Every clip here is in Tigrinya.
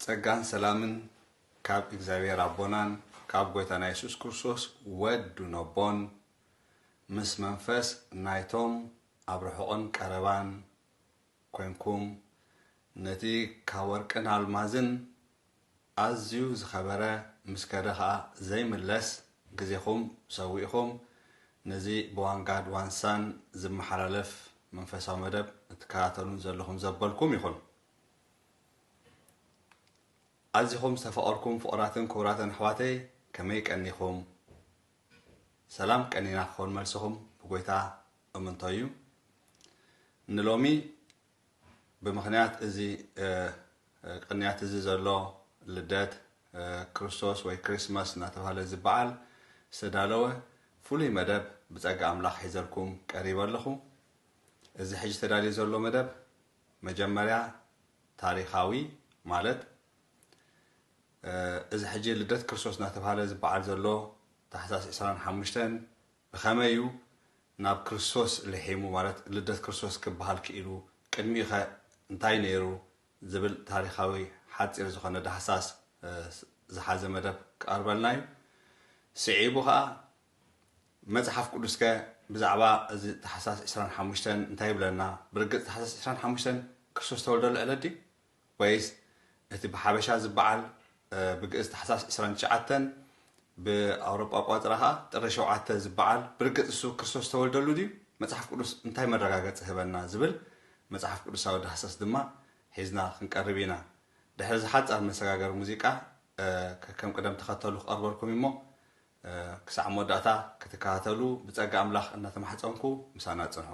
ጸጋን ሰላምን ካብ እግዚኣብሔር ኣቦናን ካብ ጎይታና የሱስ ክርስቶስ ወዱ ነቦን ምስ መንፈስ ናይቶም ኣብ ርሑቕን ቀረባን ኮንኩም ነቲ ካብ ወርቅን ኣልማዝን ኣዝዩ ዝኸበረ ምስ ከደ ከኣ ዘይምለስ ግዜኹም ሰዊእኹም ነዚ ብዋንጋድ ዋንሳን ዝመሓላለፍ መንፈሳዊ መደብ እትከታተሉን ዘለኹም ዘበልኩም ይኹን። ኣዚኹም ዝተፋቐርኩም ፍቑራትን ክቡራትን ኣሕዋተይ ከመይ ቀኒኹም? ሰላም ቀኒና ክኾን መልስኹም ብጎይታ እምንቶ እዩ። ንሎሚ ብምኽንያት እዚ ቅንያት እዚ ዘሎ ልደት ክርስቶስ ወይ ክሪስማስ እናተብሃለ እዚ በዓል ዝተዳለወ ፍሉይ መደብ ብጸጋ ኣምላኽ ሒዘልኩም ቀሪበ ኣለኹ። እዚ ሕጂ ተዳልዩ ዘሎ መደብ መጀመርያ ታሪኻዊ ማለት እዚ ሕጂ ልደት ክርስቶስ እናተብሃለ እዚ በዓል ዘሎ ታሕሳስ ዕስራን ሓሙሽተን ብኸመይ እዩ ናብ ክርስቶስ ልሒሙ፣ ማለት ልደት ክርስቶስ ክበሃል ክኢሉ፣ ቅድሚኡኸ እንታይ ነይሩ ዝብል ታሪኻዊ ሓጺር ዝኾነ ዳህሳስ ዝሓዘ መደብ ክቐርበልና እዩ። ስዒቡ ኸኣ መጽሓፍ ቅዱስከ ብዛዕባ እዚ ታሕሳስ ዕስራን ሓሙሽተን እንታይ ይብለና? ብርግጽ ታሕሳስ ዕስራን ሓሙሽተን ክርስቶስ ዝተወልደሉ ዕለት ድዩ? ወይስ እቲ ብሓበሻ ዝበዓል ብግእዝ ታሕሳስ ዕስራን ትሽዓተን ብኣውሮጳ ኣቋጽራ ከኣ ጥሪ ሸውዓተ ዝበዓል ብርግጽ ንሱ ክርስቶስ ዝተወልደሉ ድዩ? መጽሓፍ ቅዱስ እንታይ መረጋገጺ ህበና ዝብል መጽሓፍ ቅዱሳዊ ዳህሰስ ድማ ሒዝና ክንቀርብ ኢና። ድሕሪ እዚ ሓጻር መሰጋገሪ ሙዚቃ ከከም ቅደም ተኸተሉ ክቐርበልኩም እዩ እሞ ክሳዕ መወዳእታ ክትከታተሉ ብጸጋ ኣምላኽ እናተማሕጸንኩ ምሳና ጽንሑ።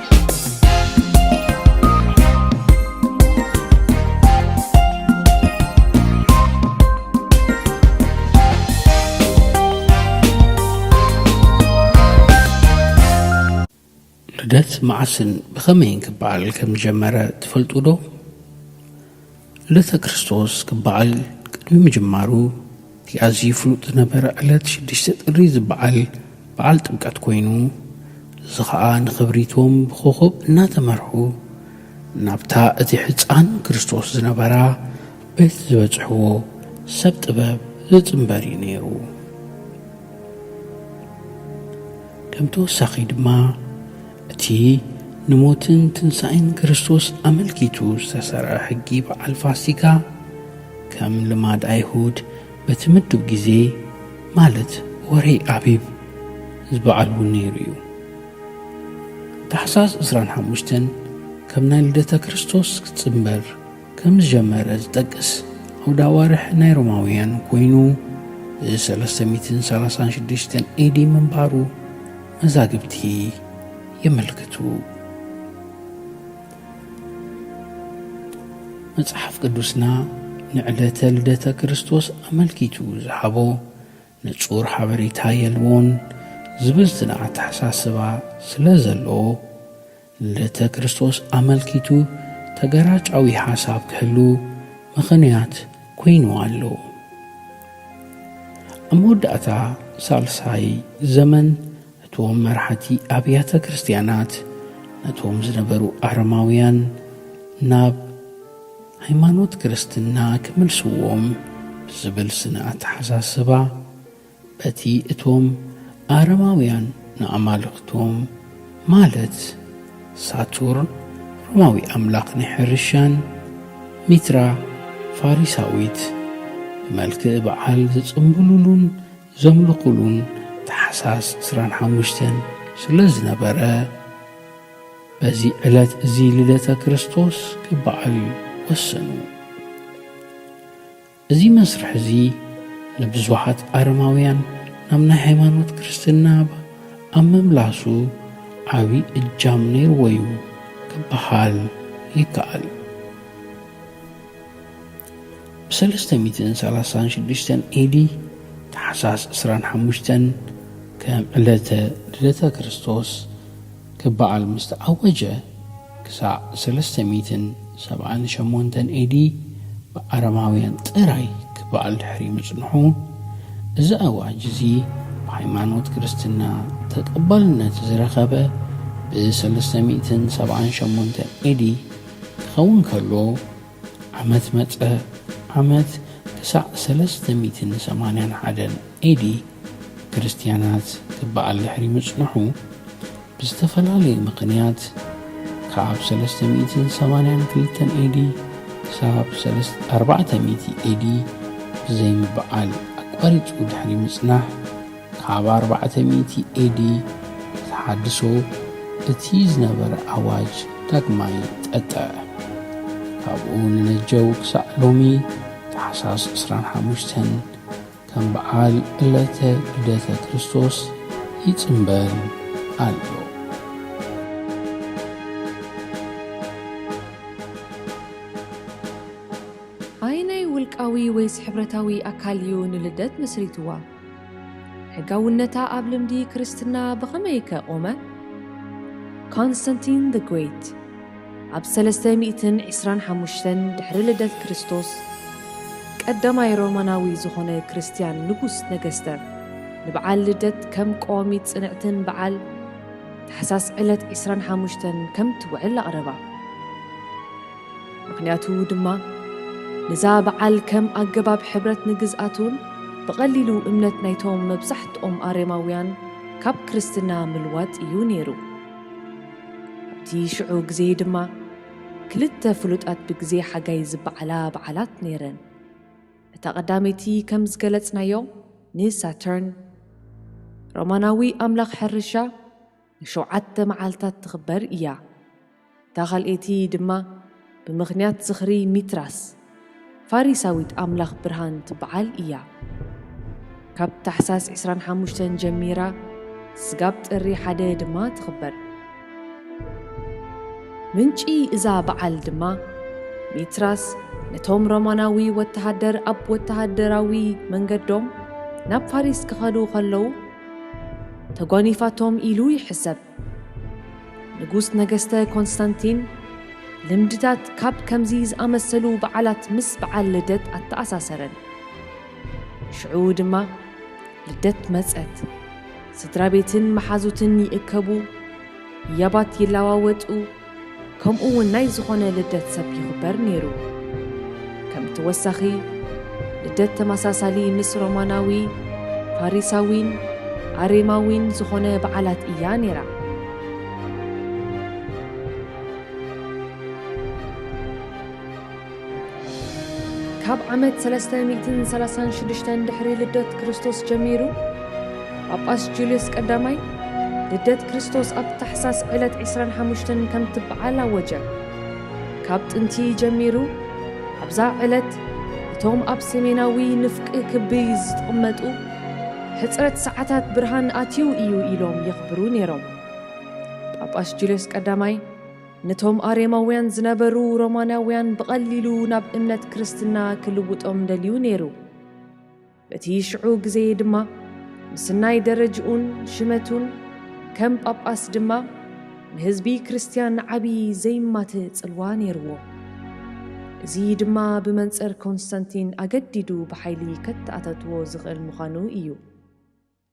ልደት መዓስን ብኸመይን ክበዓል ከም ዝጀመረ ትፈልጡ ዶ? ዕለተ ክርስቶስ ክበዓል ቅድሚ ምጅማሩ እቲ ኣዝዩ ፍሉጥ ዝነበረ ዕለት ሽዱሽተ ጥሪ ዝበዓል በዓል ጥምቀት ኮይኑ እዚ ኸኣ ንኽብሪ እቶም ብኾኾብ እናተመርሑ ናብታ እቲ ሕጻን ክርስቶስ ዝነበራ ቤት ዝበጽሕዎ ሰብ ጥበብ ዝጽንበር እዩ ነይሩ። ከም ተወሳኺ ድማ እቲ ንሞትን ትንሳኤን ክርስቶስ ኣመልኪቱ ዝተሰርዐ ሕጊ በዓል ፋሲካ፣ ከም ልማድ ኣይሁድ በቲ ምዱብ ግዜ ማለት ወርሒ ኣቢብ ዝበዓልዎ ነይሩ እዩ። ታሕሳስ ዕስራን ሓሙሽተን ከም ናይ ልደተ ክርስቶስ ክጽንበር ከም ዝጀመረ ዝጠቅስ ዓውደ ኣዋርሕ ናይ ሮማውያን ኮይኑ እዚ 336 ኤዲ ምንባሩ መዛግብቲ የመልክቱ። መጽሓፍ ቅዱስና ንዕለተ ልደተ ክርስቶስ ኣመልኪቱ ዝሃቦ ንጹር ሓበሬታ የልቦን ዝብል ዝና ኣተሓሳስባ ስለ ዘለዎ ልደተ ክርስቶስ ኣመልኪቱ ተገራጫዊ ሓሳብ ክህሉ ምኽንያት ኰይኑ ኣሎ። ኣብ መወዳእታ ሳልሳይ ዘመን እቶም መራሕቲ ኣብያተ ክርስትያናት ነቶም ዝነበሩ ኣረማውያን ናብ ሃይማኖት ክርስትና ክምልስዎም ብዝብል ስነ ኣተሓሳስባ በቲ እቶም ኣረማውያን ንኣማልኽቶም፣ ማለት ሳቱርን፣ ሮማዊ ኣምላኽ ናይ ሕርሻን፣ ሚትራ፣ ፋሪሳዊት፣ ብመልክዕ በዓል ዝጽምብሉሉን ዘምልኹሉን ታሕሳስ ዕስራን ሓሙሽተን ስለ ዝነበረ፣ በዚ ዕለት እዚ ልደተ ክርስቶስ ክበዓል ወሰኑ። እዚ መስርሕ እዚ ንብዙሓት ኣረማውያን ናብ ናይ ሃይማኖት ክርስትና ኣብ ምምላሱ ዓቢ እጃም ነይርዎ እዩ ክበሃል ይከኣል። ብ ሰለስተ ሚእትን ሰላሳን ሽዱሽተን ኤዲ፣ ታሕሳስ ዕስራን ሓሙሽተን፣ ከም ዕለተ ልደተ ክርስቶስ፣ ክበዓል ምስ ተኣወጀ ክሳዕ ሰለስተ ሚእትን ሰብዓን ሸሞንተን AD ብኣረማውያን ጥራይ ክበዓል ድሕሪ ምጽንሑ፣ እዚ ኣዋጅ እዚ ብሃይማኖት ክርስትና ተቐባልነት ዝረኸበ ብ ሰለስተ ሚእትን ሰብዓን ሸሞንተን AD ክኸውን ከሎ፣ ዓመት መጸ ዓመት ክሳዕ ሰለስተ ሚእትን ሰማንያን ሓደን AD ክርስትያናት ክበዓል ድሕሪ ምጽንሑ ብዝተፈላለየ ምኽንያት ካብ ሰለስተ ሚእትን ሰማንያን ክልተን AD ክሳብ ሰለስተ ኣርባዕተ ሚእቲ AD ብዘይምበዓል ኣቋሪጹ ድሕሪ ምጽናሕ ካብ ኣርባዕተ ሚእቲ ኤዲ ተሓድሶ እቲ ዝነበረ ኣዋጅ ዳግማይ ጠጠዐ። ካብኡ ንነጀው ክሳዕ ሎሚ ታሕሳስ ዕስራን ሓሙሽተን ከም በዓል ዕለተ ልደተ ክርስቶስ ይጽምበል ኣሎ። ኣየናይ ውልቃዊ ወይስ ሕብረታዊ ኣካል እዩ ንልደት መስሪትዋ? ሕጋውነታ ኣብ ልምዲ ክርስትና ብኸመይከ ቖመ? ኮንስታንቲን ዘ ግሬት ኣብ ሰለስተ ሚእትን ዕስራን ሓሙሽተን ድሕሪ ልደት ክርስቶስ፣ ቀዳማይ ሮማናዊ ዝዀነ ክርስትያን ንጉስ ነገስተ፣ ንበዓል ልደት ከም ቀዋሚት ጽንዕትን በዓል ታሕሳስ ዕለት ዕስራን ሓሙሽተን ከም እትውዕል ኣቕረባ። ምክንያቱ ድማ ንዛ በዓል ከም ኣገባብ ሕብረት ንግዝኣቱን ብቐሊሉ እምነት ናይቶም መብዛሕትኦም ኣሬማውያን ካብ ክርስትና ምልዋጥ እዩ ነይሩ። ኣብቲ ሽዑ ግዜ ድማ ክልተ ፍሉጣት ብግዜ ሓጋይ ዝበዓላ በዓላት ነይረን። እታ ቀዳመይቲ ከም ዝገለጽናዮ ንሳተርን፣ ሮማናዊ ኣምላኽ ሕርሻ፣ ንሸውዓተ መዓልታት ትኽበር እያ። እታ ኻልኤቲ ድማ ብምኽንያት ዝኽሪ ሚትራስ፣ ፋሪሳዊት ኣምላኽ ብርሃን ትበዓል እያ። ካብ ታሕሳስ ዕስራን ሓሙሽተን ጀሚራ ስጋብ ጥሪ ሓደ ድማ ትኽበር። ምንጪ እዛ በዓል ድማ፣ ሚትራስ ነቶም ሮማናዊ ወተሃደር ኣብ ወተሃደራዊ መንገዶም ናብ ፋሪስ ክኸዱ ኸለዉ፣ ተጓኒፋቶም ኢሉ ይሕሰብ። ንጉስ ነገስተ ኮንስታንቲን ልምድታት ካብ ከምዚ ዝኣመሰሉ በዓላት ምስ በዓል ልደት ኣተኣሳሰረን። ሽዑ ድማ ልደት መጸት። ስድራቤትን መሓዙትን ይእከቡ፣ ህያባት ይለዋወጡ፣ ከምኡ እውን ናይ ዝኾነ ልደት ሰብ ይኽበር ነይሩ። ከም ተወሳኺ ልደት ተመሳሳሊ ምስ ሮማናዊ፣ ፋሪሳዊን ኣሬማዊን ዝኾነ በዓላት እያ ነይራ። ካብ ዓመት ሰለስተ ሚእትን ሰላሳን ሽዱሽተን ድሕሪ ልደት ክርስቶስ ጀሚሩ ጳጳስ ጁልዮስ ቀዳማይ ልደት ክርስቶስ ኣብ ታሕሳስ ዕለት ዕስራን ሓሙሽተን ከም ትበዓል ኣወጀ። ካብ ጥንቲ ጀሚሩ ኣብዛ ዕለት እቶም ኣብ ሰሜናዊ ንፍቅ ክቢ ዝጥቕመጡ ሕጽረት ሰዓታት ብርሃን ኣትዩ እዩ ኢሎም የኽብሩ ነይሮም። ጳጳስ ጁልዮስ ቀዳማይ ነቶም ኣሬማውያን ዝነበሩ ሮማናውያን ብቐሊሉ ናብ እምነት ክርስትና ክልውጦም ደልዩ ነይሩ። በቲ ሽዑ ግዜ ድማ ምስናይ ደረጅኡን ሽመቱን ከም ጳጳስ ድማ ንህዝቢ ክርስትያን ዓቢ ዘይማትእ ጽልዋ ነይርዎ። እዚ ድማ ብመንጽር ኮንስታንቲን ኣገዲዱ ብሓይሊ ከተኣታትዎ ዝኽእል ምዃኑ ኢዩ።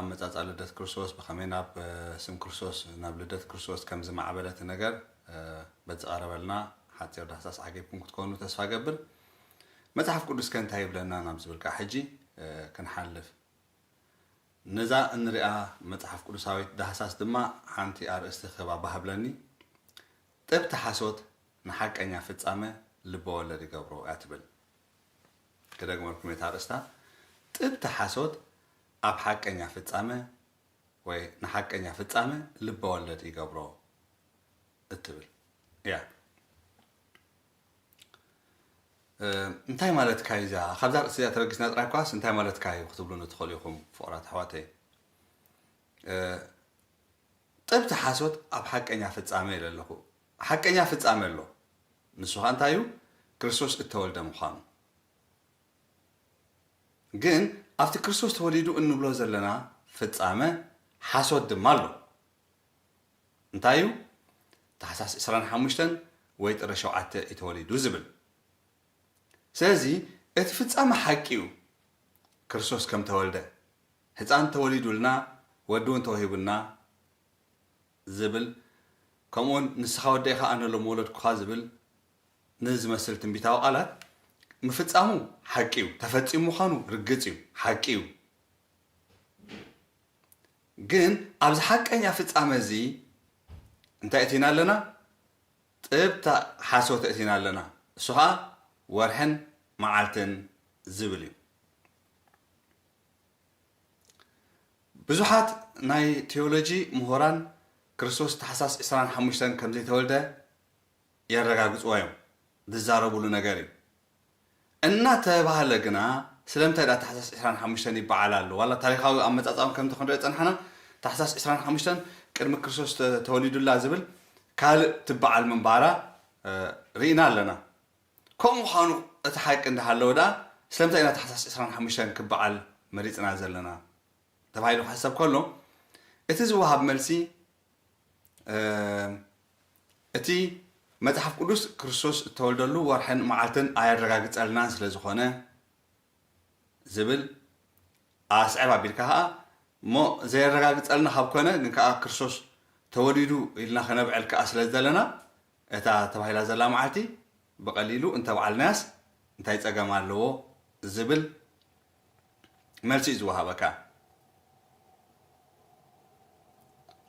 ኣመጻጽኣ ልደት ክርስቶስ ብኸመይ ናብ ስም ክርስቶስ ናብ ልደት ክርስቶስ ከም ዝማዕበለ እቲ ነገር በዝቐረበልና ሓጺር ዳህሳስ ዓጊብኩም ክትኮኑ ተስፋ እገብር። መጽሓፍ ቅዱስከ እንታይ ይብለና ናብ ዝብል ከኣ ሕጂ ክንሓልፍ። ነዛ እንሪኣ መጽሓፍ ቅዱሳዊት ዳህሳስ ድማ ሓንቲ ኣርእስቲ ክህባ እባ ሃብለኒ። ጥብቲ ሓሶት ንሓቀኛ ፍጻመ ልበወለድ ይገብሮ እያ ትብል። ክደግመልኩም እየ እታ ኣርእስታ ጥብቲ ሓሶት ኣብ ሓቀኛ ፍጻመ ወይ ንሓቀኛ ፍጻመ ልበወለድ ይገብሮ እትብል እያ እንታይ ማለትካ እዩ እዚኣ ካብዛ ርእሲ እዚኣ ተበጊስና ጥራይ ኳስ እንታይ ማለትካ እዩ ክትብሉኒ ትኽእሉ ኢኹም ፍቕራት ኣሕዋተይ ጥብቲ ሓሶት ኣብ ሓቀኛ ፍጻመ ኢለ ኣለኹ ሓቀኛ ፍጻሜ ኣሎ፣ ንሱ ኸኣ እንታይ እዩ? ክርስቶስ እተወልደ ምዃኑ። ግን ኣብቲ ክርስቶስ ተወሊዱ እንብሎ ዘለና ፍጻመ ሓሶት ድማ ኣሎ። እንታይ እዩ? ታሕሳስ ዕስራን ሓሙሽተን ወይ ጥሪ ሸውዓተ እዩ ተወሊዱ ዝብል። ስለዚ እቲ ፍጻመ ሓቂ እዩ፣ ክርስቶስ ከም ተወልደ፣ ህጻን ተወሊዱልና፣ ወዲ እውን ተወሂቡና፣ ዝብል ከምኡውን ንስኻ ወደይ ኸኣ ነሎ ምወለድኩኻ ዝብል ንዝመስል ትንቢታዊ ቃላት ምፍጻሙ ሓቂ እዩ ተፈጺሙ ምዃኑ ርግጽ እዩ ሓቂ እዩ ግን ኣብዚ ሓቀኛ ፍጻመ እዚ እንታይ እቲና ኣለና ጥብታ ሓሶት እቲና ኣለና እሱ ኸኣ ወርሕን መዓልትን ዝብል እዩ ብዙሓት ናይ ቲዮሎጂ ምሁራን ክርስቶስ ታሕሳስ ዕስራን ሓሙሽተን ከም ዘይተወልደ የረጋግጽዎ እዮም፣ ዝዛረቡሉ ነገር እዩ። እናተባህለ ግና ስለምንታይ ድኣ ታሕሳስ ዕስራን ሓሙሽተን ይበዓል ኣሎ? ዋላ ታሪኻዊ ኣመጻጽኣ እውን ከምቲ ክንርእዮ ዝጸናሕና ታሕሳስ ዕስራን ሓሙሽተን ቅድሚ ክርስቶስ ተወሊዱላ ዝብል ካልእ ትበዓል ምንባራ ርኢና ኣለና። ከምኡ ምዃኑ እቲ ሓቂ እንዳሃለወ ድኣ ስለምንታይ ኢና ታሕሳስ ዕስራን ሓሙሽተን ክበዓል መሪጽና ዘለና? ተባሂሉ ክሕሰብ ከሎ እቲ ዝወሃብ መልሲ እቲ መጽሓፍ ቅዱስ ክርስቶስ እተወልደሉ ወርሕን መዓልትን ኣየረጋግጸልናን ስለ ዝኾነ ዝብል ኣስዕብ ኣቢልካ ከኣ እሞ ዘየረጋግጸልና ካብ ኮነ ግን ከኣ ክርስቶስ ተወሊዱ ኢልና ከነብዕል ከኣ ስለ ዝደለና እታ ተባሂላ ዘላ መዓልቲ ብቐሊሉ እንተብዓልናያስ እንታይ ጸገም ኣለዎ ዝብል መልሲ እዩ ዝወሃበካ።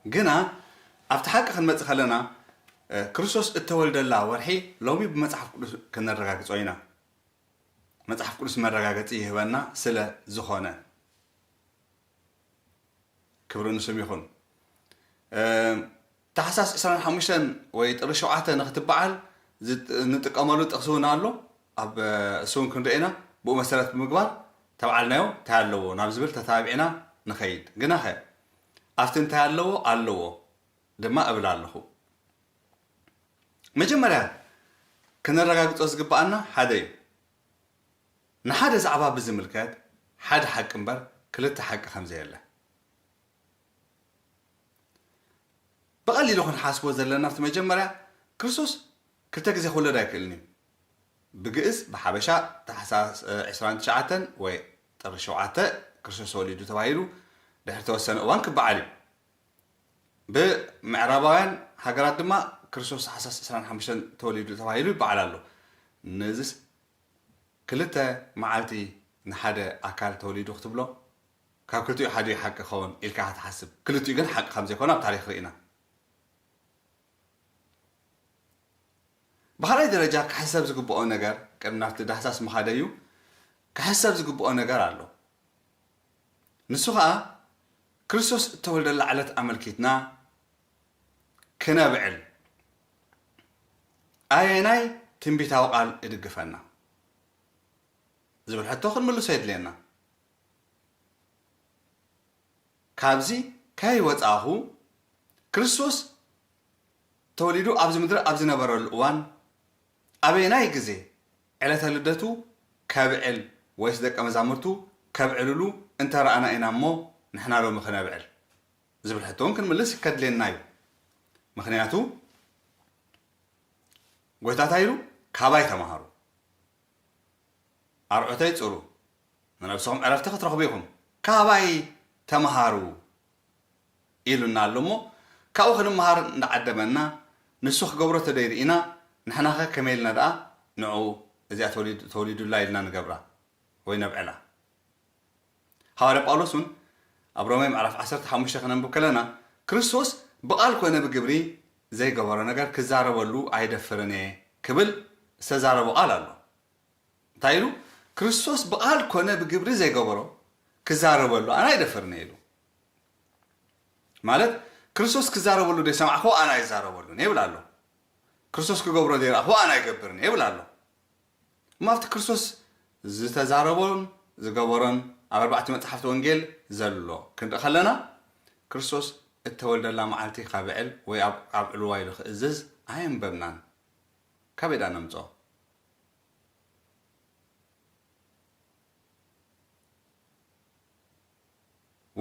ግና ኣብቲ ሓቂ ክንመጽእ ከለና ክርስቶስ እተወልደላ ወርሒ ሎሚ ብመጽሓፍ ቅዱስ ከነረጋግጾ ኢና። መጽሓፍ ቅዱስ መረጋገጺ ይህበና ስለ ዝኾነ። ክብሪ ንስም ይኹን። ታሕሳስ ዕስራን ሓሙሽተን ወይ ጥሪ ሸውዓተ ንክትበዓል ንጥቀመሉ ጥቅሲ ውን ኣሎ ኣብ እሱ ውን ክንሪኦ ኢና ብኡ መሰረት ብምግባር ተብዓልናዮ ታይ ኣለዎ ናብ ዝብል ተታባቢዕና ንከይድ ግናኸ ኣብቲ እንታይ ኣለዎ ኣለዎ ድማ እብል ኣለኹ መጀመርያ ክነረጋግፆ ዝግበኣና ሓደ ዩ ንሓደ ዛዕባ ብዝምልከት ሓደ ሓቂ እምበር ክልተ ሓቂ ከምዘየለ ብቐሊሉ ክንሓስቦ ዘለና እቲ መጀመርያ ክርስቶስ ክልተ ግዜ ክውለድ ኣይክእልን እዩ። ብግእዝ ብሓበሻ ታሕሳስ ዕስራን ትሽዓተን ወይ ጥሪ ሸውዓተ ክርስቶስ ተወሊዱ ተባሂሉ ድሕሪ ተወሰነ እዋን ክበዓል እዩ። ብምዕራባውያን ሃገራት ድማ ክርስቶስ ታሕሳስ ዕስራን ሓሙሽተን ተወሊዱ ተባሂሉ ይበዓል ኣሎ። ነዚስ ክልተ መዓልቲ ንሓደ ኣካል ተወሊዱ ክትብሎ ካብ ክልቲኡ ሓደ እዩ ሓቂ ክኸውን ኢልካ ክትሓስብ። ክልቲኡ ግን ሓቂ ከም ዘይኮኑ ኣብ ታሪኽ ርኢና። ብኻልኣይ ደረጃ ክሕሰብ ዝግብኦ ነገር፣ ቅድሚ ናብቲ ዳህሳስ ምኻደዩ ክሕሰብ ዝግብኦ ነገር ኣሎ። ንሱ ኸኣ ክርስቶስ እተወልደላ ዕለት ኣመልኪትና ክነብዕል ኣየናይ ትንቢታዊ ቃል እድግፈና? ዝብል ሕቶ ክንምልሶ የድልየና። ካብዚ ከይወጻእኹ፣ ክርስቶስ ተወሊዱ ኣብዚ ምድሪ ኣብ ዝነበረሉ እዋን፣ ኣበየናይ ግዜ ዕለተ ልደቱ ከብዕል ወይስ ደቀ መዛሙርቱ ከብዕልሉ እንተ ረኣና ኢና እሞ ንሕና ሎሚ ክነብዕል? ዝብል ሕቶ እውን ክንምልስ ከድልየና እዩ። ምኽንያቱ ጐይታ እንታይ ኢሉ? ካባይ ተማሃሩ። ኣርዑተይ ጹሩ ንነብስኹም ዕረፍቲ ክትረኽቡ ኢኹም ካባይ ተመሃሩ ኢሉና ኣሎ እሞ ካብኡ ክንመሃር እንዳዓደመና ንሱ ክገብሮ ተደይ ርኢና ንሕናኸ ከመይ ኢልና ደኣ ንዑ እዚኣ ተወሊዱላ ኢልና ንገብራ ወይ ነብዕላ ሃዋርያ ጳውሎስ እውን ኣብ ሮሜ ምዕራፍ ዓሰርተ ሓሙሽተ ከነንብብ ከለና ክርስቶስ ብቓል ኮነ ብግብሪ ዘይገበሮ ነገር ክዛረበሉ ኣይደፍርን እየ ክብል ዝተዛረቦ ቓል ኣሎ። እንታይ ኢሉ? ክርስቶስ ብቓል ኮነ ብግብሪ ዘይገበሮ ክዛረበሉ ኣነ ኣይደፍርን እየ ኢሉ። ማለት ክርስቶስ ክዛረበሉ ዘይሰማዕክዎ ኣነ ኣይዛረበሉን እየ ይብል ኣሎ። ክርስቶስ ክገብሮ ዘይረኣኽዎ ኣነ ኣይገብርን እየ ይብል ኣሎ። እሞ ኣብቲ ክርስቶስ ዝተዛረቦን ዝገበሮን ኣብ ኣርባዕቱ መጻሕፍቲ ወንጌል ዘሎ ክንርኢ ከለና ክርስቶስ እተወልደላ መዓልቲ ከብዕል ወይ ኣብ ኣብዕልዋ ኢሉ ክእዝዝ ኣየንበብናን። ካበይ ደኣ ነምጽኦ?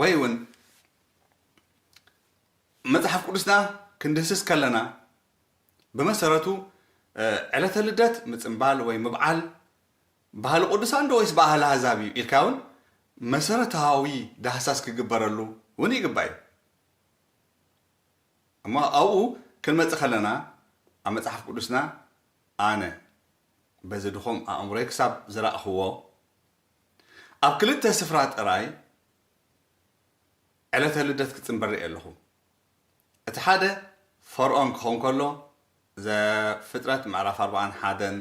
ወይ እውን መጽሓፍ ቅዱስና ክንድህስስ ከለና ብመሰረቱ ዕለተ ልደት ምጽንባል ወይ ምብዓል ባህሊ ቅዱሳን ዶ ወይስ ባህሊ ኣህዛብ እዩ ኢልካ ውን መሰረታዊ ዳህሳስ ክግበረሉ ውን ይግባእ እዩ። እሞ ኣብኡ ክንመጽእ ከለና ኣብ መጽሓፍ ቅዱስና ኣነ በዚ ድኹም ኣእምሮይ ክሳብ ዝራእኽዎ ኣብ ክልተ ስፍራ ጥራይ ዕለተ ልደት ክጽንበል ርእየ ኣለኹ። እቲ ሓደ ፈርኦን ክኸውን ከሎ ዘፍጥረት ምዕራፍ ኣርብዓን ሓደን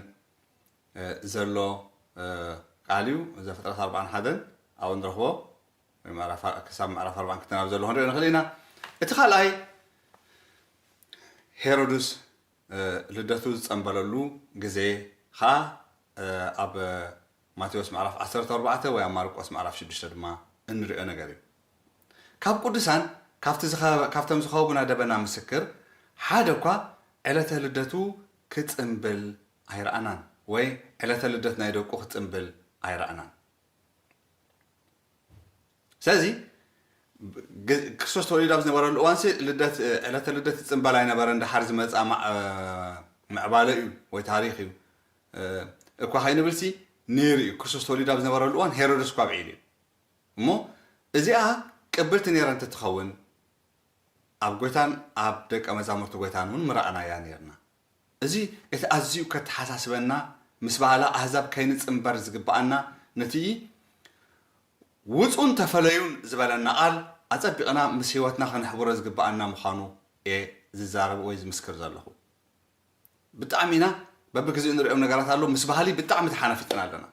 ዘሎ ቃል እዩ። ዘፍጥረት ኣርብዓን ሓደን ኣብኡ ንረኽቦ ክሳብ ምዕራፍ ኣርብዓን ክልተን ኣብ ዘሎ ክንሪኦ ንኽእል ኢና። እቲ ካልኣይ ሄሮድስ ልደቱ ዝጸንበለሉ ግዜ ከኣ ኣብ ማቴዎስ ምዕራፍ ዓሰርተ ኣርባዕተ ወይ ኣብ ማርቆስ ምዕራፍ ሽዱሽተ ድማ እንሪኦ ነገር እዩ። ካብ ቅዱሳን ካብቲ ዝኸ ካብቶም ዝኸቡና ደበና ምስክር ሓደ እኳ ዕለተ ልደቱ ክጽንብል ኣይረኣናን ወይ ዕለተ ልደት ናይ ደቁ ክጽንብል ኣይረኣናን። ስለዚ ግ ክርስቶስ ተወሊዱ ኣብ ዝነበረሉ እዋንሲ ልደት ዕለተ ልደት ይጽንበል ኣይነበረን ደሓር ዝመጽኣ ማ- እ፣ ምዕባለ እዩ ወይ ታሪኽ እዩ እ፣ እኳ ከይንብልሲ ነይሩ እዩ ክርስቶስ ተወሊዱ ኣብ ዝነበረሉ እዋን ሄሮድስ እኳ ኣብዒሉ እዩ። እሞ እዚኣ ቅብልቲ ኔራ እንተትኸውን ኣብ ጎይታን ኣብ ደቀ መዛሙርቲ ጎይታን እውን ምረኣናያ ኔርና። እዚ እቲ ኣዝዩ ከተሓሳስበና ምስ በዓላ ኣህዛብ ከይንጽንበር ዝግበኣና ነቲ ውጹን ተፈለዩን ዝበለና ቃል ኣጸቢቕና ምስ ሕይወትና ከነሕብሮ ዝግበኣና ምዃኑ እየ ዝዛረብ ወይ ዝምስክር ዘለኹ። ብጣዕሚ ኢና በብግዜኡ ንርእዮም ነገራት ኣለዉ ምስ በሃሊ ብጣዕሚ ተሓናፊጥና ኣለና።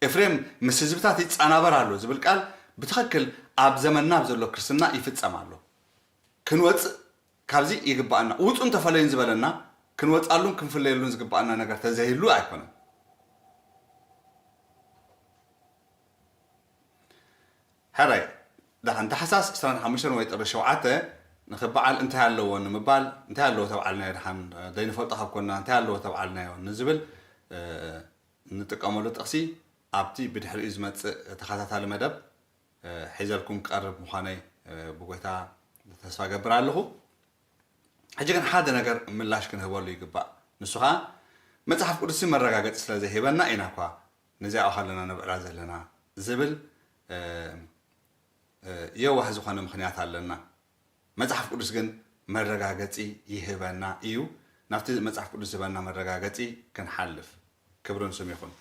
ኤፍሬም ምስ ህዝብታት ይጻናበር ኣሎ ዝብል ቃል ብትኽክል ኣብ ዘመንና ኣብ ዘሎ ክርስትና ይፍጸም ኣሎ ክንወጽእ ካብዚ ይግባኣና ውጹን ተፈለዩን ዝበለና ክንወጻሉን ክንፍለየሉን ዝግባኣና ነገር ተዘይህሉ ኣይኮነን ሕራይ ዳሓን ታሕሳስ ዕስራን ሓሙሽተን ወይ ጥሪ ሸውዓተ ንክበዓል እንታይ ኣለዎ ንምባል እንታይ ኣለዎ ተብዓልናዮ ዳሓን ዘይንፈልጦ ካብ ኮና እንታይ ኣለዎ ተብዓልናዮ ንዝብል እንጥቀመሉ ጥቕሲ ኣብቲ ብድሕሪኡ ዝመጽእ ተኸታታሊ መደብ ሒዘልኩም ክቐርብ ምዃነይ ብጎይታ ተስፋ እገብር ኣለኹ። ሕጂ ግን ሓደ ነገር ምላሽ ክንህበሉ ይግባእ። ንሱ ኸኣ መጽሓፍ ቅዱስሲ መረጋገጺ ስለ ዘይህበና ኢና እኳ ነዚኣ ኣብ ሃለና ነብዕላ ዘለና ዝብል የዋህ ዝኾነ ምኽንያት ኣለና። መጽሓፍ ቅዱስ ግን መረጋገጺ ይህበና ኢዩ። ናብቲ መጽሓፍ ቅዱስ ዝህበና መረጋገጺ ክንሓልፍ። ክብሪ ንስም ይኹን።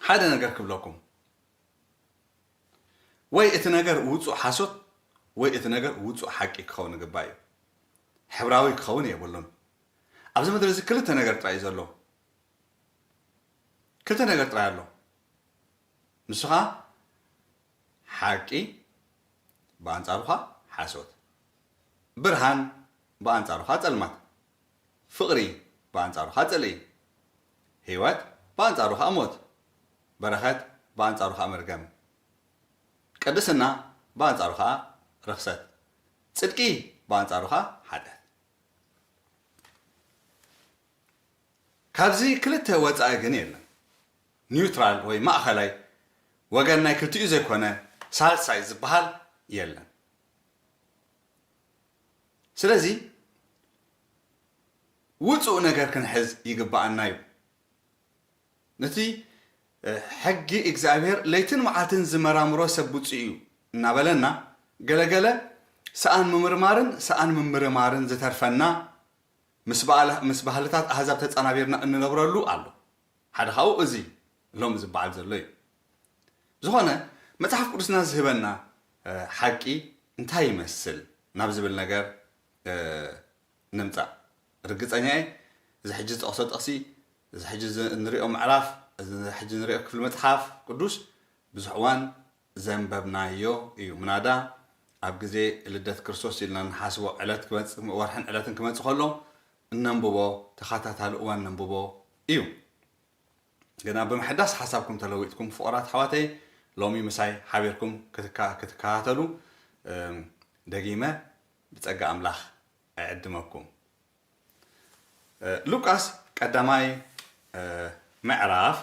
ሓደ ነገር ክብለኩም ወይ እቲ ነገር ውፁእ ሓሶት ወይ እቲ ነገር ውፁእ ሓቂ ክኸውን ግባ እዩ ሕብራዊ ክኸውን የብሉን ኣብዚ ምድሪ እዚ ክልተ ነገር ጥራይ ዘሎ ክልተ ነገር ጥራይ ኣሎ ንስኻ ሓቂ ብኣንጻሩኻ ሓሶት ብርሃን ብኣንጻሩኻ ጸልማት ፍቕሪ ብኣንጻሩኻ ጽልኢ ህይወት ብኣንጻሩኻ ሞት በረኸት ብኣንጻሩኻ መርገም ቅድስና ብኣንጻሩኻ ርኽሰት ጽድቂ ብኣንጻሩኻ ሓጢኣት። ካብዚ ክልተ ወጻኢ ግን የለን። ኒውትራል ወይ ማእኸላይ ወገን ናይ ክልቲኡ ዘይኮነ ሳልሳይ ዝበሃል የለን። ስለዚ ውጹእ ነገር ክንሕዝ ይግበኣና እዩ። ነቲ ሕጊ እግዚኣብሔር ለይትን መዓልትን ዝመራምሮ ሰብ ብፁእ እዩ እናበለና ገለገለ ሰኣን ምምርማርን ሰኣን ምምርማርን ዝተርፈና ምስ ባህልታት ኣህዛብ ተጻናቢርና እንነብረሉ ኣሎ። ሓደ ካብኡ እዚ ሎሚ ዝበዓል ዘሎ እዩ። ብዝኾነ መጽሓፍ ቅዱስና ዝህበና ሓቂ እንታይ ይመስል ናብ ዝብል ነገር ንምጻእ። ርግጸኛ እየ እዚ ሕጂ ዝጠቕሶ ጥቕሲ፣ እዚ ሕጂ እንርእዮ ምዕራፍ፣ እዚ ሕጂ እንርእዮ ክፍሊ መጽሓፍ ቅዱስ ብዙሕ እዋን ዘንበብናዮ እዩ። ምናዳ ኣብ ግዜ ልደት ክርስቶስ ኢልና እንሓስቦ ዕለት ክመጽእ ወርሕን ዕለትን ክመጽእ ከሎ እነንብቦ ተኸታታሊ እዋን እነንብቦ እዩ። ግና ብምሕዳስ ሓሳብኩም ተለዊጥኩም ፍቑራት ኣሕዋተይ ሎሚ ምሳይ ሓቢርኩም ክትከታተሉ ደጊመ ብጸጋ ኣምላኽ እዕድመኩም። ሉቃስ ቀዳማይ ምዕራፍ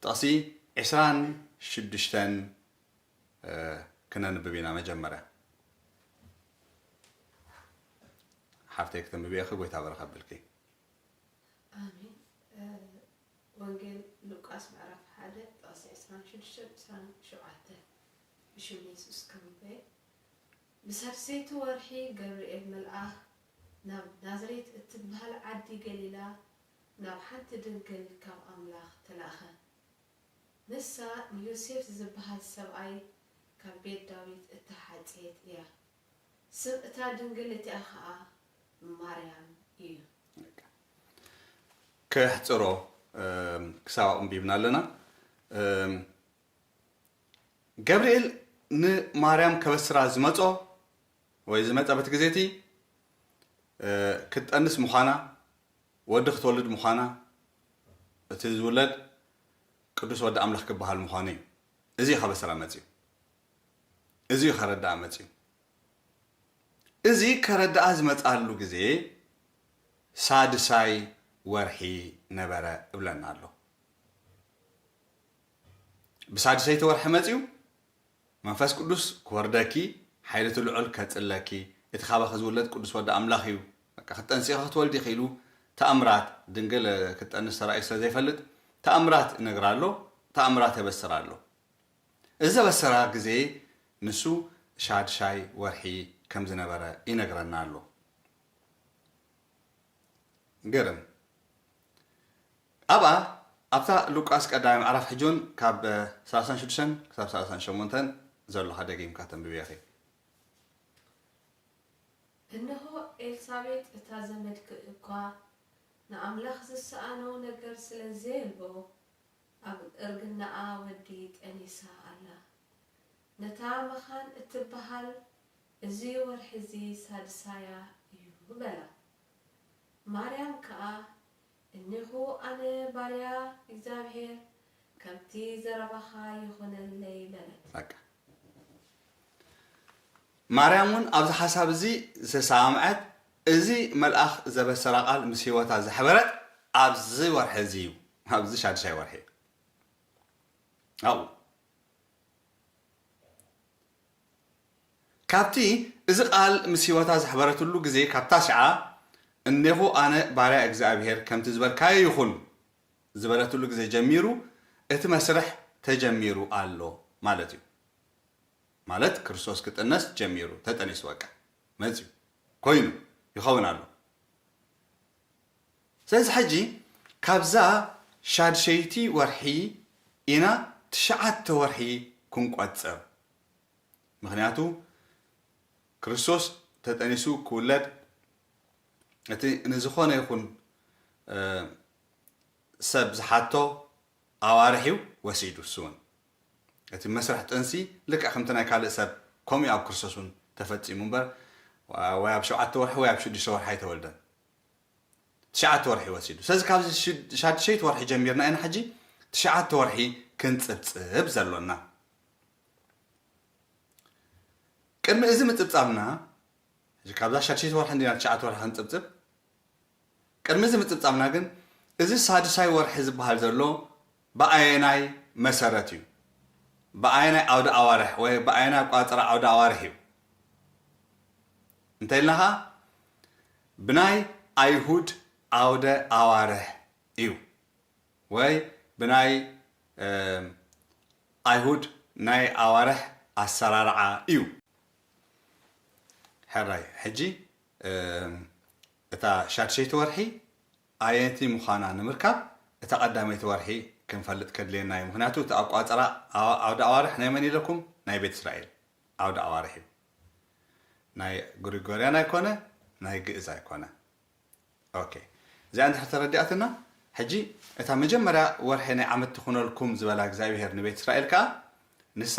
ጥቕሲ ዕስራን ሽዱሽተን ክነንብብ ኢና መጀመርያ ሓፍተይ ክተንብብ እየኺ ጎይታ በረኽ ኣብልኪ ኣሜን ወንጌል ሉቃስ ምዕራፍ ሓደ ጥቕሲ ዕስራን ሽዱሽተን ዕስራን ሸውዓተን ብሽም የሱስ ከንብበየ ብሳልሰይቲ ወርሒ ገብርኤል መልኣኽ ናብ ናዝሬት እትብሃል ዓዲ ገሊላ ናብ ሓንቲ ድንግል ካብ ኣምላኽ ተላእከ። ንሳ ንዮሴፍ ዚብሃል ሰብኣይ ካብ ቤት ዳዊት እተሓጽየት እያ። ስም እታ ድንግል እቲኣ ኸኣ ማርያም እዩ። ከሕጽሮ ክሳብ ኣቕንቢብና ኣለና። ገብርኤል ንማርያም ከበስራ ዝመጾ ወይ ዝመጸ በቲ ግዜ እቲ ክትጠንስ ምዃና ወዲ ክትወልድ ምዃና እቲ ዝውለድ ቅዱስ ወዲ ኣምላኽ ክበሃል ምዃኑ እዩ። እዚ እዩ ካብ ኣሰራ መጺኡ። እዚ እዩ ከረድኣ መጺኡ። እዚ ከረድኣ ዝመጽኣሉ ግዜ ሳድሳይ ወርሒ ነበረ እብለና ኣሎ። ብሳድሰይቲ ወርሒ መጺኡ መንፈስ ቅዱስ ክወርደኪ ሓይሊ እቲ ልዑል ከጽለኪ እቲ ካባኺ ዝውለድ ቅዱስ ወዲ ኣምላኽ እዩ በቃ ክትጠንስኺ ክትወልዲ ኢኺ ኢሉ ተኣምራት ድንግል ክትጠንስ ተራእዩ ስለ ዘይፈልጥ ተኣምራት ይነግራ ኣሎ ተኣምራት የበስራ ኣሎ እዚ ዘበሰራ ግዜ ንሱ ሻድሻይ ወርሒ ከም ዝነበረ ይነግረና ኣሎ ግርም ኣብኣ ኣብታ ሉቃስ ቀዳማይ ምዕራፍ ሕጂውን ካብ ሰላሳን ሽዱሽተን ክሳብ ሰላሳን ሸሞንተን ዘሎ ከኣ ደጊምካ ተንብብዮ ኢኺ። እንሆ ኤልሳቤጥ እታ ዘመድኪ እኳ ንኣምላኽ ዝሰኣኖ ነገር ስለ ዘየልቦ ኣብ እርግናኣ ወዲ ጠኒሳ ኣላ። ነታ መኻን እትበሃል እዚ ወርሒዚ ሳድሳያ እዩ በላ። ማርያም ከኣ እኔኹ ኣነ ባርያ እግዚኣብሄር፣ ከምቲ ዘረባኻ ይኹነለይ በለት። በቃ ማርያም እውን ኣብዚ ሓሳብ እዚ ዝተሰማምዐት፣ እዚ መልኣኽ ዘበሰራ ቃል ምስ ህይወታ ዘሕበረት ኣብዚ ወርሒ እዚ እዩ፣ ኣብዚ ሻድሻይ ወርሒ እዩ። ኣብኡ ካብቲ እዚ ቓል ምስ ህይወታ ዘሕበረትሉ ግዜ ካብ ታሽዓ እኔኹ ኣነ ባርያ እግዚኣብሄር ከምቲ ዝበልካዮ ይኹን ዝበለትሉ ግዜ ጀሚሩ እቲ መስርሕ ተጀሚሩ ኣሎ ማለት እዩ ማለት ክርስቶስ ክጥነስ ጀሚሩ ተጠኒሱ በቃ መጽዩ ኮይኑ ይኸውን ኣሎ ስለዚ ሕጂ ካብዛ ሻድሸይቲ ወርሒ ኢና ትሽዓተ ወርሒ ክንቆጽር ምኽንያቱ ክርስቶስ ተጠኒሱ ክውለድ እቲ ንዝኾነ ይኹን ሰብ ዝሓቶ ኣዋርሕ እዩ ወሲዱ እሱ እውን እቲ መስርሕ ጥንሲ ልክዕ ከምቲ ናይ ካልእ ሰብ ከምኡ እዩ ኣብ ክርስቶስ እውን ተፈፂሙ እምበር ወይ ኣብ ሸውዓተ ወርሒ ወይ ኣብ ሽዱሽተ ወርሒ ኣይተወልደን ትሽዓተ ወርሒ ወሲዱ ስለዚ ካብዚ ሻድሸይቲ ወርሒ ጀሚርና ኢና ሕጂ ትሽዓተ ወርሒ ክንፅብፅብ ዘሎና ቅድሚ እዚ ምጽብጻብና፣ ሕጂ ካብዛ ሻድሸይቲ ወርሒ እንዲና ትሽዓተ ወርሒ ክንጽብጽብ፣ ቅድሚ እዚ ምጽብጻብና ግን እዚ ሳድሳይ ወርሒ ዝበሃል ዘሎ ብኣየናይ መሰረት እዩ? ብኣየናይ ኣውደ ኣዋርሕ ወይ ብኣየናይ ኣቆጻጽራ ኣውደ ኣዋርሕ እዩ? እንተኢልና ከኣ ብናይ ኣይሁድ ኣውደ ኣዋርሕ እዩ። ወይ ብናይ ኣይሁድ ናይ ኣዋርሕ ኣሰራርዓ እዩ። ሕራይ ሕጂ እታ ሻድሸይቲ ወርሒ ኣየነቲ ምዃና ንምርካብ እታ ቀዳመይቲ ወርሒ ክንፈልጥ ከድልየና እዩ ምኽንያቱ እቲ ኣቋጽራ ዓውደ ኣዋርሕ ናይ መን ኢለኩም ናይ ቤት እስራኤል ዓውደ ኣዋርሕ እዩ ናይ ግሪጎርያን ኣይኮነ ናይ ግእዝ ኣይኮነ ኦኬ እዚኣ እንድሕር ተረዲኣትና ሕጂ እታ መጀመርያ ወርሒ ናይ ዓመት ትኹነልኩም ዝበላ እግዚኣብሄር ንቤት እስራኤል ከኣ ንሳ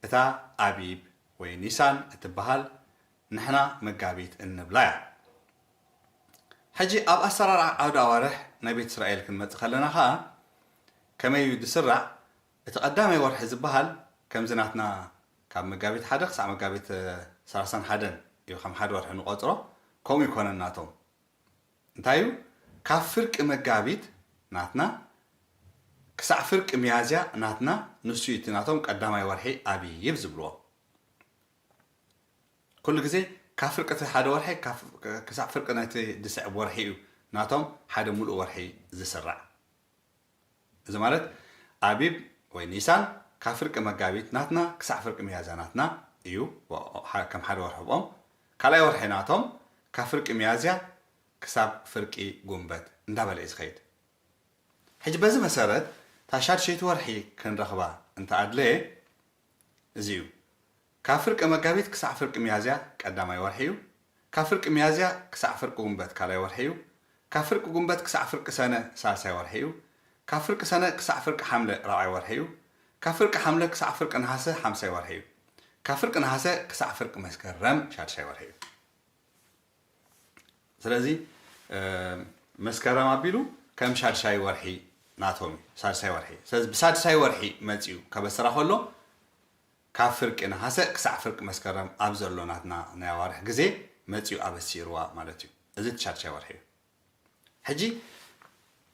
እታ ኣቢብ ወይ ኒሳን እትበሃል ንሕና መጋቢት እንብላ እያ። ሕጂ ኣብ ኣሰራርዓ ዓውደ ኣዋርሕ ናይ ቤት እስራኤል ክንመጽእ ከለና ከኣ ከመይ እዩ ዝስራዕ እቲ ቀዳማይ ወርሒ ዝበሃል ከምዚ ናትና ካብ መጋቢት ሓደ ክሳዕ መጋቢት ሰላሳን ሓደን እዩ ከም ሓደ ወርሒ ንቆጽሮ ከምኡ ኣይኮነን ናቶም እንታይ እዩ ካብ ፍርቂ መጋቢት ናትና ክሳዕ ፍርቂ ሚያዝያ ናትና ንሱ እዩ እቲ ናቶም ቀዳማይ ወርሒ ኣቢብ ዝብልዎ ኩሉ ግዜ ካብ ፍርቂ እቲ ሓደ ወርሒ ክሳዕ ፍርቂ ናይቲ ዝስዕብ ወርሒ እዩ ናቶም ሓደ ሙሉእ ወርሒ ዝስራዕ እዚ ማለት ኣቢብ ወይ ኒሳን ካብ ፍርቂ መጋቢት ናትና ክሳዕ ፍርቂ ሚያዝያ ናትና እዩ ከም ሓደ ወርሒ ብኦም ካልኣይ ወርሒ ናቶም ካብ ፍርቂ ሚያዝያ ክሳብ ፍርቂ ጉንበት እንዳበለ እዩ ዝኸይድ ሕጂ በዚ መሰረት እታ ሻድሸይቲ ወርሒ ክንረኽባ እንተ ኣድለየ እዚ እዩ ካብ ፍርቂ መጋቢት ክሳዕ ፍርቂ ሚያዝያ ቀዳማይ ወርሒ እዩ። ካብ ፍርቂ ሚያዝያ ክሳዕ ፍርቂ ጉንበት ካልኣይ ወርሒ እዩ። ካብ ፍርቂ ጉንበት ክሳዕ ፍርቂ ሰነ ሳልሳይ ወርሒ እዩ። ካብ ፍርቂ ሰነ ክሳዕ ፍርቂ ሓምለ ራብዓይ ወርሒ እዩ። ካብ ፍርቂ ሓምለ ክሳዕ ፍርቂ ነሓሰ ሓምሳይ ወርሒ እዩ። ካብ ፍርቂ ነሓሰ ክሳዕ ፍርቂ መስከረም ሻድሻይ ወርሒ እዩ። ስለዚ መስከረም ኣቢሉ ከም ሻድሻይ ወርሒ ናቶም እዩ። ሳድሳይ ወርሒ እዩ። ስለዚ ብሳድሳይ ወርሒ መጺኡ ከበስራ ከሎ ካብ ፍርቂ ነሓሰ ክሳዕ ፍርቂ መስከረም ኣብ ዘሎ ናትና ናይ ኣዋርሕ ግዜ መጺኡ ኣበሲርዋ ማለት እዩ። እዚ እቲ ሻድሻይ ወርሒ እዩ። ሕጂ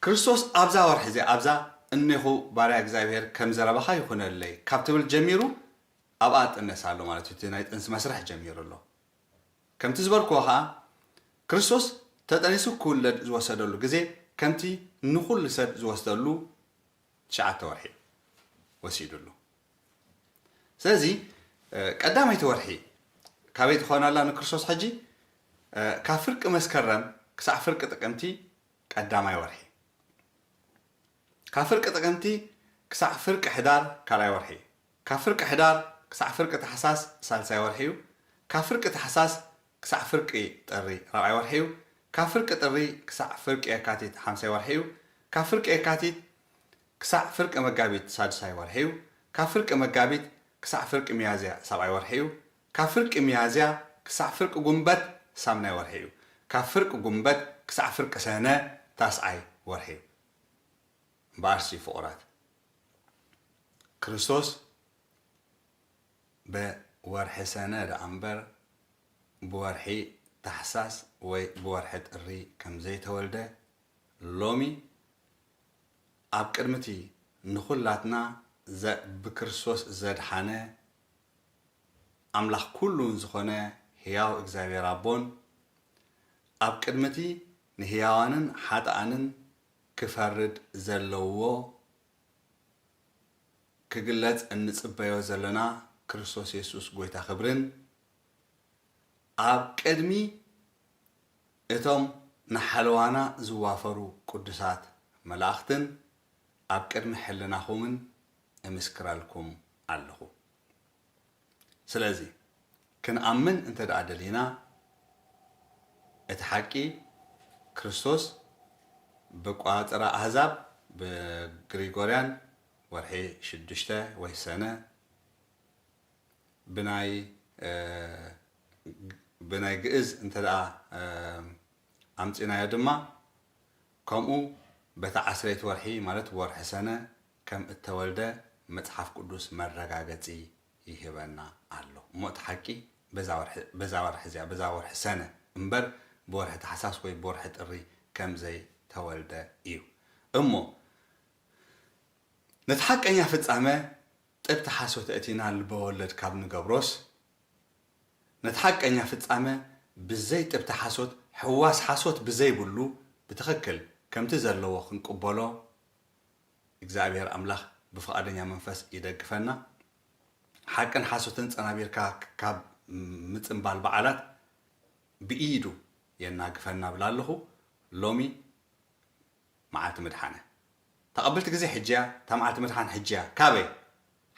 ክርስቶስ ኣብዛ ወርሒ እዚኣ ኣብዛ እኔኹ ባርያ እግዚኣብሄር ከም ዘረባኻ ይኹነለይ ካብ ትብል ጀሚሩ ኣብኣ እጥነስ ኣሎ ማለት እዩ። እቲ ናይ ጥንሲ መስርሕ ጀሚሩ ኣሎ። ከምቲ ዝበልክዎ ከኣ ክርስቶስ ተጠኒሱ ክውለድ ዝወሰደሉ ግዜ ከምቲ ንኹሉ ሰብ ዝወስደሉ ትሽዓተ ወርሒ ወሲዱሉ። ስለዚ ቀዳመይቲ ወርሒ ካበይ ትኸውን ኣላ ንክርስቶስ ሕጂ? ካብ ፍርቂ መስከረም ክሳዕ ፍርቂ ጥቅምቲ ቀዳማይ ወርሒ። ካብ ፍርቂ ጥቅምቲ ክሳዕ ፍርቂ ሕዳር ካልኣይ ወርሒ። ካብ ፍርቂ ሕዳር ክሳዕ ፍርቂ ታሕሳስ ሳልሳይ ወርሒ እዩ። ካብ ፍርቂ ታሕሳስ ክሳዕ ፍርቂ ጥሪ ራብዓይ ወርሒ እዩ። ካብ ፍርቂ ጥሪ ክሳዕ ፍርቂ የካቲት ሓምሳይ ወርሒ እዩ። ካብ ፍርቂ የካቲት ክሳዕ ፍርቂ መጋቢት ሳድሳይ ወርሒ'ዩ፣ ካብ ፍርቂ መጋቢት ክሳዕ ፍርቂ ሚያዝያ ሳብዓይ ወርሒ'ዩ፣ ካብ ፍርቂ ሚያዝያ ክሳዕ ፍርቂ ጉንበት ሳምናይ ወርሒ'ዩ፣ ካብ ፍርቂ ጉንበት ክሳዕ ፍርቂ ሰነ ታስዓይ ወርሒ'ዩ። እምበኣርሲ ፍቑራት፣ ክርስቶስ ብወርሒ ሰነ ደኣ'ምበር ብወርሒ ታሕሳስ ወይ ብወርሒ ጥሪ ከም ዘይተወልደ ሎሚ ኣብ ቅድሚ እቲ ንኹላትና ዘእ ብክርስቶስ ዘድሓነ ኣምላኽ ኩሉን ዝኾነ ሕያው እግዚኣብሔር ኣቦን፣ ኣብ ቅድሚ እቲ ንሕያዋንን ኃጥኣንን ክፈርድ ዘለዎ ክግለጽ እንጽበዮ ዘሎና ክርስቶስ የሱስ ጐይታ ክብርን፣ ኣብ ቅድሚ እቶም ንሓለዋና ዝዋፈሩ ቅዱሳት መላእኽትን ኣብ ቅድሚ ሕልናኹምን እምስክረልኩም ኣለኹ። ስለዚ ክንኣምን እንተድኣ ደሊና እቲ ሓቂ ክርስቶስ ብቋጽራ ኣህዛብ ብግሪጎርያን ወርሒ ሽዱሽተ ወይ ሰነ፣ ብናይ ብናይ ግእዝ እንተ ኣምጺእናዮ ድማ ከምኡ በታ ዓስረይቲ ወርሒ ማለት ወርሒ ሰነ ከም እተወልደ መጽሓፍ ቅዱስ መረጋገጺ ይህበና ኣሎ። እሞ እቲ ሓቂ በዛ ወርሒ በዛ ወርሒ እዚኣ በዛ ወርሒ ሰነ እምበር ብወርሒ ታሕሳስ ወይ ብወርሒ ጥሪ ከም ዘይተወልደ እዩ። እሞ ነቲ ሓቀኛ ፍጻመ ጥብቲ ሓሶት ኣእቲና ልበወለድ ካብ ንገብሮስ፣ ነቲ ሓቀኛ ፍጻመ ብዘይ ጥብቲ ሓሶት ሕዋስ ሓሶት ብዘይብሉ ብትኽክል ከምቲ ዘለዎ ክንቅበሎ እግዚኣብሔር ኣምላኽ ብፍቓደኛ መንፈስ ይደግፈና። ሓቅን ሓሶትን ጸናቢርካ ካብ ምጽንባል በዓላት ብኢዱ የናግፈና እብላ ኣለኹ። ሎሚ መዓልቲ ምድሓነ ተቐብልቲ ግዜ ሕጂያ እታ መዓልቲ ምድሓን ሕጂያ ካበይ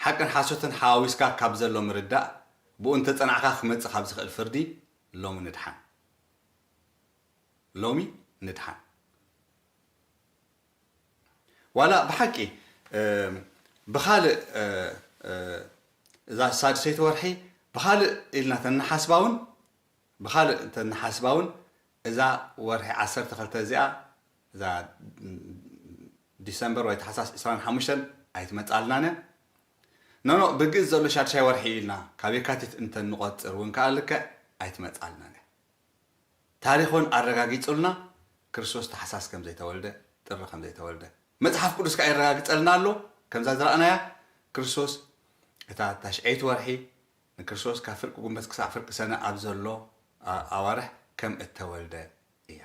ሓቅን ሓሶትን ሓዋዊስካ ካብ ዘሎ ምርዳእ ብኡ እንተጸናዕካ ክመጽእ ካብ ዝኽእል ፍርዲ ሎሚ ንድሓን ሎሚ ንድሓን ዋላ ብሓቂ ብኻልእ እዛ ሳድሰይቲ ወርሒ ብኻልእ ኢልና ተንሓስባውን ብኻልእ ተንሓስባውን እዛ ወርሒ ዓሰርተ ክልተ እዚኣ እዛ ዲሰምበር ወይ ታሕሳስ ዕስራን ሓሙሽተን ኣይትመጽኣልናን እያ። ኖኖእ ብግእዝ ዘሎ ሻድሻይ ወርሒ እዩ ኢልና ካብ የካቲት እንተ ንቖጽር እውን ከኣ ልክዕ ኣይትመጽኣልናን እያ። ታሪኽ እውን ኣረጋጊጹልና ክርስቶስ ታሕሳስ ከም ዘይተወልደ፣ ጥሪ ከም ዘይተወልደ። መጽሓፍ ቅዱስ ከኣ የረጋግጸልና ኣሎ ከምዛ ዝረኣናያ ክርስቶስ እታ ታሽዐይቲ ወርሒ ንክርስቶስ ካብ ፍርቂ ጉንበት ክሳዕ ፍርቂ ሰነ ኣብ ዘሎ ኣዋርሕ ከም እተወልደ እያ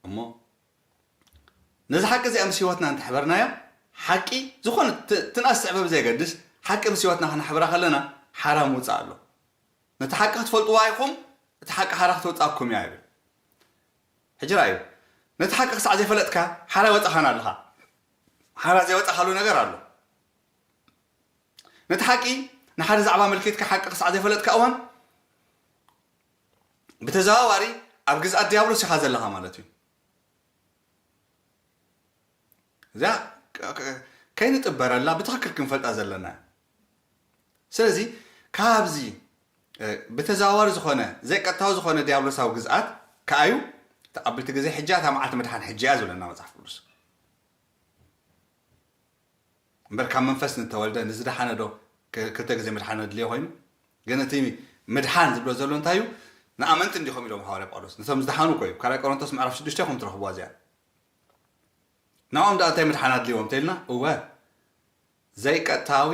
እሞ ነዛ ሓቂ እዚኣ ምስ ህይወትና እንተ ኣሕበርናያ ሓቂ ዝኾነ ትንኣስ ትዕበ ብዘየገድስ ሓቂ ምስ ህይወትና ክነሕብራ ከለና ሓራ ምውጻእ ኣሎ ነቲ ሓቂ ክትፈልጥዋ ኢኹም እቲ ሓቂ ሓራ ክተውጻኩም እያ ይብል ሕጂ ራእዩ ነቲ ሓቂ ክሳዕ ዘይፈለጥካ ሓራ ይወጻኻና ኣለኻ ሓራ ዘይወጻኻሉ ነገር ኣሎ ነቲ ሓቂ ንሓደ ዛዕባ ኣመልኪትካ ሓቂ ክሳዕ ዘይፈለጥካ እዋን ብተዘዋዋሪ ኣብ ግዝኣት ድያብሎስ ኢኻ ዘለኻ ማለት እዩ። እዚኣ ከይንጥበረላ ብትኽክል ክንፈልጣ ዘለና እዩ። ስለዚ ካብዚ ብተዘዋዋሪ ዝኾነ ዘይቀጥታዊ ዝኾነ ዲያብሎሳዊ ግዝኣት ከኣ እዩ ተቐብልቲ ግዜ ሕጂ እታ መዓልቲ ምድሓን ሕጂ እያ ዝብለና መጽሓፍ ቅዱስ እምበር ካብ መንፈስ ንተወልደ ንዝደሓነ ዶ ክልተ ግዜ ምድሓን ኣድልዮ ኮይኑ ግን እቲ ምድሓን ዝብሎ ዘሎ እንታይ እዩ ንኣመንቲ እንዲኹም ኢሎም ሃዋርያ ጳውሎስ ነቶም ዝደሓኑ እኮ እዩ ካልኣይ ቆሮንቶስ ምዕራፍ ሽዱሽተ ኢኹም ትረኽብዋ እዚኣ ንኦም ደኣ እንታይ ምድሓን ኣድልዎም እንተኢልና እወ ዘይቀጥታዊ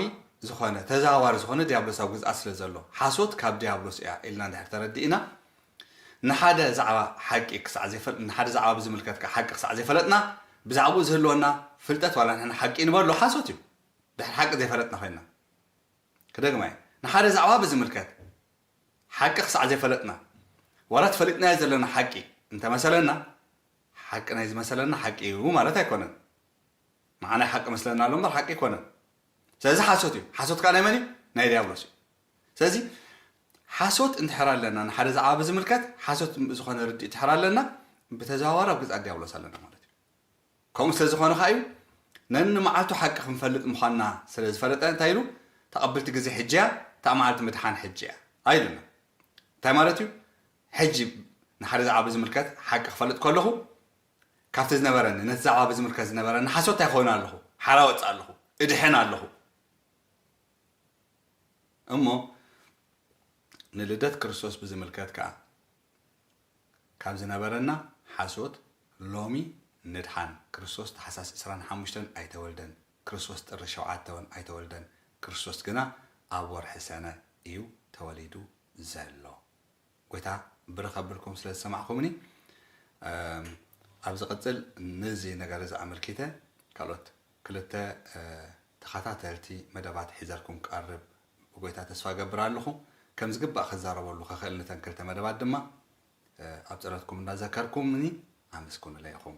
ዝኾነ ተዘዋዋሪ ዝኾነ ዲያብሎሳዊ ግዝኣት ስለ ዘሎ ሓሶት ካብ ዲያብሎስ እያ ኢልና እንድሕር ተረዲእና ንሓደ ዛዕባ ሓቂ ክሳዕ ዘይፈል ንሓደ ዛዕባ ብዝምልከት ከኣ ሓቂ ክሳዕ ዘይፈለጥና ብዛዕባኡ ዝህልወና ፍልጠት ዋላ ንሕና ሓቂ ንበሎ ሓሶት እዩ ድሕሪ ሓቂ ዘይፈለጥና ኮይንና ክደግማ እየ ንሓደ ዛዕባ ብዝምልከት ሓቂ ክሳዕ ዘይፈለጥና ዋላ እቲ ፈሊጥናዮ ዘለና ሓቂ እንተመሰለና ሓቂ ናይ ዝመሰለና ሓቂ እዩ ማለት ኣይኮነን ንዓናይ ሓቂ መስለና ኣሎ እምበር ሓቂ ኣይኮነን ስለዚ ሓሶት እዩ ሓሶት ከኣ ናይ መን እዩ ናይ ዲያብሎስ እዩ ስለዚ ሓሶት እንድሕር ኣለና ንሓደ ዛዕባ ብዝምልከት ሓሶት ዝኾነ ርድኢት እንድሕር ኣለና ብተዘዋዋሪ ኣብ ገጻ ዲያብሎስ ኣለና ማለት እዩ። ከምኡ ስለ ዝኾነ ከኣ እዩ ነንመዓልቱ ሓቂ ክንፈልጥ ምዃንና ስለ ዝፈለጠ እንታይ ኢሉ ተቐብልቲ ግዜ ሕጂ እያ እታ መዓልቲ ምድሓን ሕጂ እያ ኣይሉና እንታይ ማለት እዩ ሕጂ ንሓደ ዛዕባ ብዝምልከት ሓቂ ክፈልጥ ከለኹ ካብቲ ዝነበረኒ ነቲ ዛዕባ ብዝምልከት ዝነበረኒ ሓሶት እንታይ ክኸውን ኣለኹ ሓራ ወፅእ ኣለኹ እድሕን ኣለኹ እሞ ንልደት ክርስቶስ ብዝምልከት ከኣ ካብ ዝነበረና ሓሶት ሎሚ ንድሓን፣ ክርስቶስ ታሕሳስ ዕስራን ሓሙሽተን ኣይተወልደን፣ ክርስቶስ ጥሪ ሸውዓተ ውን ኣይተወልደን፣ ክርስቶስ ግና ኣብ ወርሒ ሰነ እዩ ተወሊዱ ዘሎ ጎይታ ብርኽ ኣብልኩም ስለ ዝሰማዕኩምኒ ኣብ ዝቅጽል ንዚ ነገር እዚ ኣመልኪተ ካልኦት ክልተ ተኻታተልቲ መደባት ሒዘልኩም ክቀርብ ብጎይታ ተስፋ እገብር ኣለኹ ከም ዝግባእ ክዛረበሉ ክኽእል ንተን ክልተ መደባት ድማ ኣብ ጸሎትኩም እንዳዘከርኩምኒ ኣመስግኑለይ ኢኹም